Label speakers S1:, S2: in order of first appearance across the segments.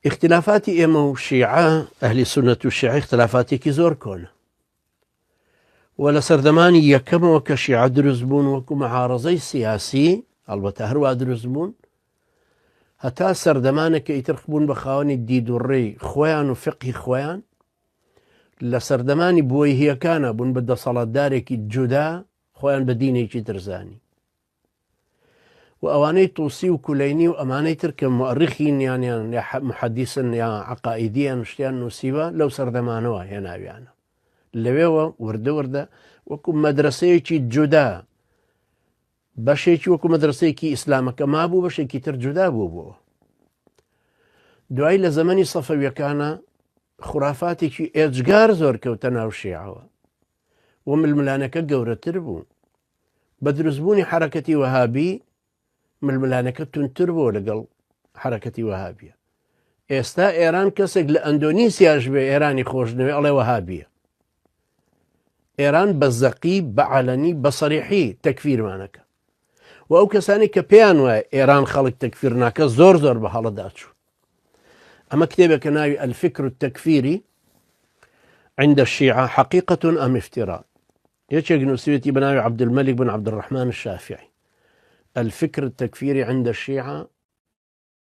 S1: ئیختلافاتی ئێمە و شیعە ئەهلی سونەت و شیعە ئختلافاتێکی زۆر کۆنە و لە سەردەمانی یەکەمەوە کە شیعە دروست بوون وەکو مەعاڕزەی سیاسی هەڵبەتە هەروە دروست بوون هەتا سەردەمانێکە ئیترخ بوون بە خاوەنی دیدوڕێی خۆیان و فقی خۆیان لە سەردەمانی بۆی هیەکانە بوون بە دەسەڵاتدارێکی جودا خۆیان بە دینێکی درزانی و ئەوانەی طوسی و کولەینی و ئەمانەی تر کە موئەڕیخین یان یان یا محەدیسن یا عەقائیدییەن شتیان نووسیوە لەو سەردەمانەوە هێناویانە لەوێوە وردە وردە وەکو مەدرسەیەکی جودا بەشێکی وەکو مەدرسەیەکی ئیسلامەکە مابوو بەشێکی تر جودا بوو بووە دوای لە زەمەنی سەفەویەکانە خورافاتێکی ئێجگار زۆر کەوتە ناو شێعەوە و ململانەکە گەورەتر بوو. بە دروستبوونی حەرەکەتی وەهابی ململانەکە تونتر بووە لەگەڵ حەرەکەتی وەهابیە. ئێستا ئێران کەسێک لە ئەندۆنیسیاش بێ ئێرانی خۆشنەوێ ئەڵێ وەهابیە. ئێران بە زەقی بە عەلەنی بە سەریحی تەکفیرمانەکە. و ئەو کەسانەی کە پێیان وایە ئێران خەڵک تەکفیر ناکە زۆر زۆر بە هەڵەدا چوو ئەمە کتێبێکە ناوی ئەلفکر و تەکفیری عند الشیعە حقیقەتون ئەم افترا یەکێک نووسێتی بە ناوی عبدمەلیک بن عبدڕحمان شافعی الفکر تەکفیری عند الشیعە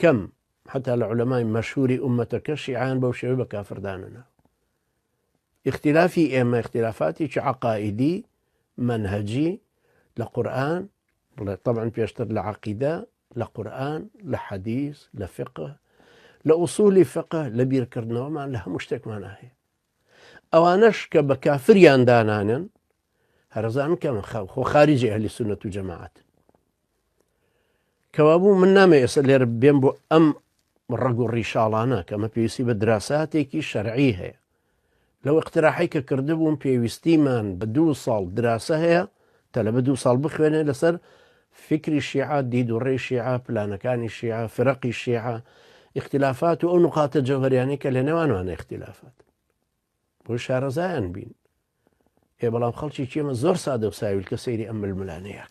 S1: کەم، حەتا لە عولەمای مەشهوری ئوممەتەکە شیعەیان بەو شێوەی بە کافر دانەنا. ئیختیلافی ئێمە ئیختیلافاتێکی عەقائیدی، مەنهەجی، لە قورئان، بڵێ طبعا پێشتر لە عەقیدە، لە قورئان، لە حەدیس، لە فقه، لە ئوصولی فقه، لە بیرکردنەوەمان لە هەموو شتێکمانا هەیە. ئەوانەش کە بە کافریان دانانێن هەرزان کە من خەڵ خۆ خارجی ئەهلی سونەت و جەماعات کەوابوو من نامێ ئێستا لێر بێن بۆ ئەم ڕەگ و ڕیشاڵانە کەمە پێویستی بە دراساتێکی شەرعی هەیە لەو اقتراحی کە کردبووم پێویستیمان بە دوو ساڵ دراسە هەیە تەلەبە دوو ساڵ بخوێنێ لەسەر فیکری شیعە، دید و ڕێی شیعە، پلانەکانی شیعە، فیرەقی شیعە، ئیختیلافات و ئەو نوقاتە جەوهەریانەی کە لە نێوانوانە ئیختیلافات بۆی شارەزایان بین. ئێ بەڵام خەڵکی چێمە زۆر سادە و ساویلکە سەیری ئەم ململانێیاک.